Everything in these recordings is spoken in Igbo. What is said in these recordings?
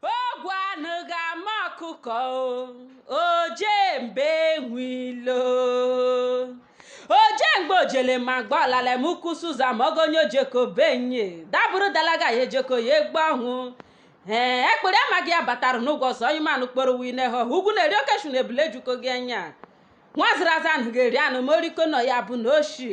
ogwu anụ ga-ama ọkụkọ oje mba enwe ilo oje mgbe ojele ma gba ọlala m ukwu suza ma ogonye o jeko be onye dabụrụ dalaga ya ejeko ya egbe ọhụ ee ekpere amaghị ya batara n'ụgwọ ọzọ onye manụ kporo wine ha ugwu na-eri oke eshu na ebule ejuko gị anya nwaziri aza anụ ga-eri anụ ma oriko nọ ya bụ na oshi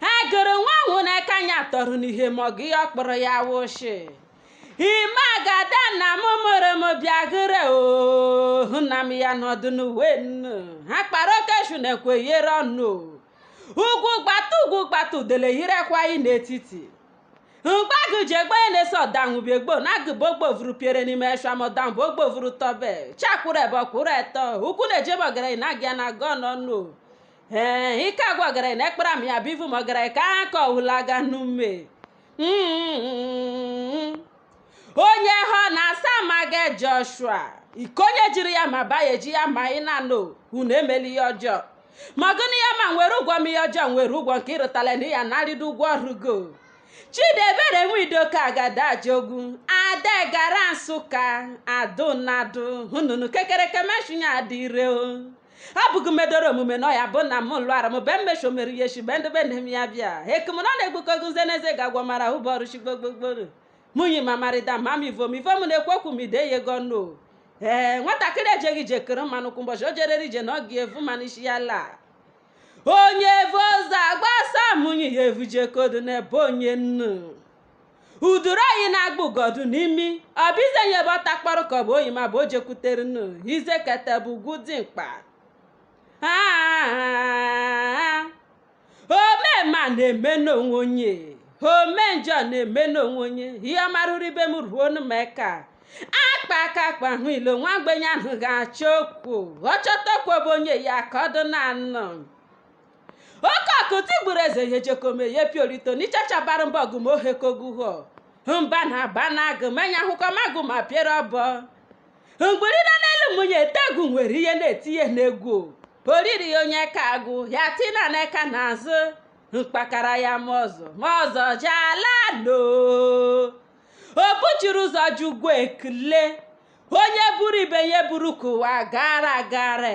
a gụrụ nwa ahụ n'aka ya tọrọ n'ihe ma ọ gị ọ kpọrọ ya wụshị ime agada na m mụrụ m bịa gịrị ohu na m ya nọdụ n'uwe nnu ha kpara oke eshu na-ekweyere ọnụ ugwu gbata ugwu gbata udele yirekwa anyị n'etiti mgbagụ ji egbe na-ese ọdanwụbiegbo na agụbogbo vuru piere n'ime eshamọdanbụ ogbo vuru tọbe chakwụrụ ebe ọ kwụrụ etọ ụkwụ na-eje be ọgaranya na agịa na agọ n'ọnụ ee ike agwa ọgara na ekpere m ya bụ ivu m ọ gara ka aka ọhụla aga n'ume Mm. onye ha na-asa ma ga joshua ike onye jiri ya ma baya eji ya ma ị na-anụ unu emela ihe ọjọọ ma gụnụ ya ma nwere ụgwọ m ihe ọjọọ nwere ụgwọ nke ịrụtala na ya narịdo ụgwọ ọrụ go chidebere nwidoka agadajogu ada gara nsụka adụnadụ hụnụnụ kekereke meshinya adịre o abụghị m edoro omume nọ ya bụ na m lụara m be mmesho mere ihe shi be ndị be nne m ya bịa ekem na ọ na-egbuko gọ nze na eze ga-agwọ mara ụbọ ọrụ shi gbogbogboro mụnyi ma marịda ma m ivom ivom na-ekwu okwu m ide ya ego ọnụ ee nwatakịrị ejeghị ije kuru mmanụ kwụ ụbọchị o jerere ije na ọ ga-evu mmanụ isi ya laa onye evu ọzọ agbasa mụnyi ya evu jekodu n'ebe onye nnu uduru oyi na-agba ugodu n'imi ọ bụ ize nyebe ọ takpọrọ ka ọ bụ oyi ma bụ o jekwutere nnu ize kete bụ ugwu dị mkpa Ah, ome mma na-eme n'onwe onye ome njọ na-eme n'onwe onye ihe ọma ruru ibe m ruonụ m aka akpa aka akpa hụ ilo nwa mgbenye anaghị achọ okwu ọ chọta okwu bụ onye ya ka ọ dụ na anọ oke ọkụ tigburu eze ya ejeko ma ya piorito n'ichachabara mba ọgụ ma ohekoguho mba na aba na agụ m anya ahụkọ m agụ ma piere ọbọ mgbiri nọ n'elu mụnye ete egwu nwere ihe na-etinye n'egwu oriri ya onye ka agụ ya tina na eka n'azụ mkpakara ya ma ọzọ ma ọzọ jala no o buchiri ụzọ ji ụgwọ ekele onye buru ibe ya buru ka ụwa gara agara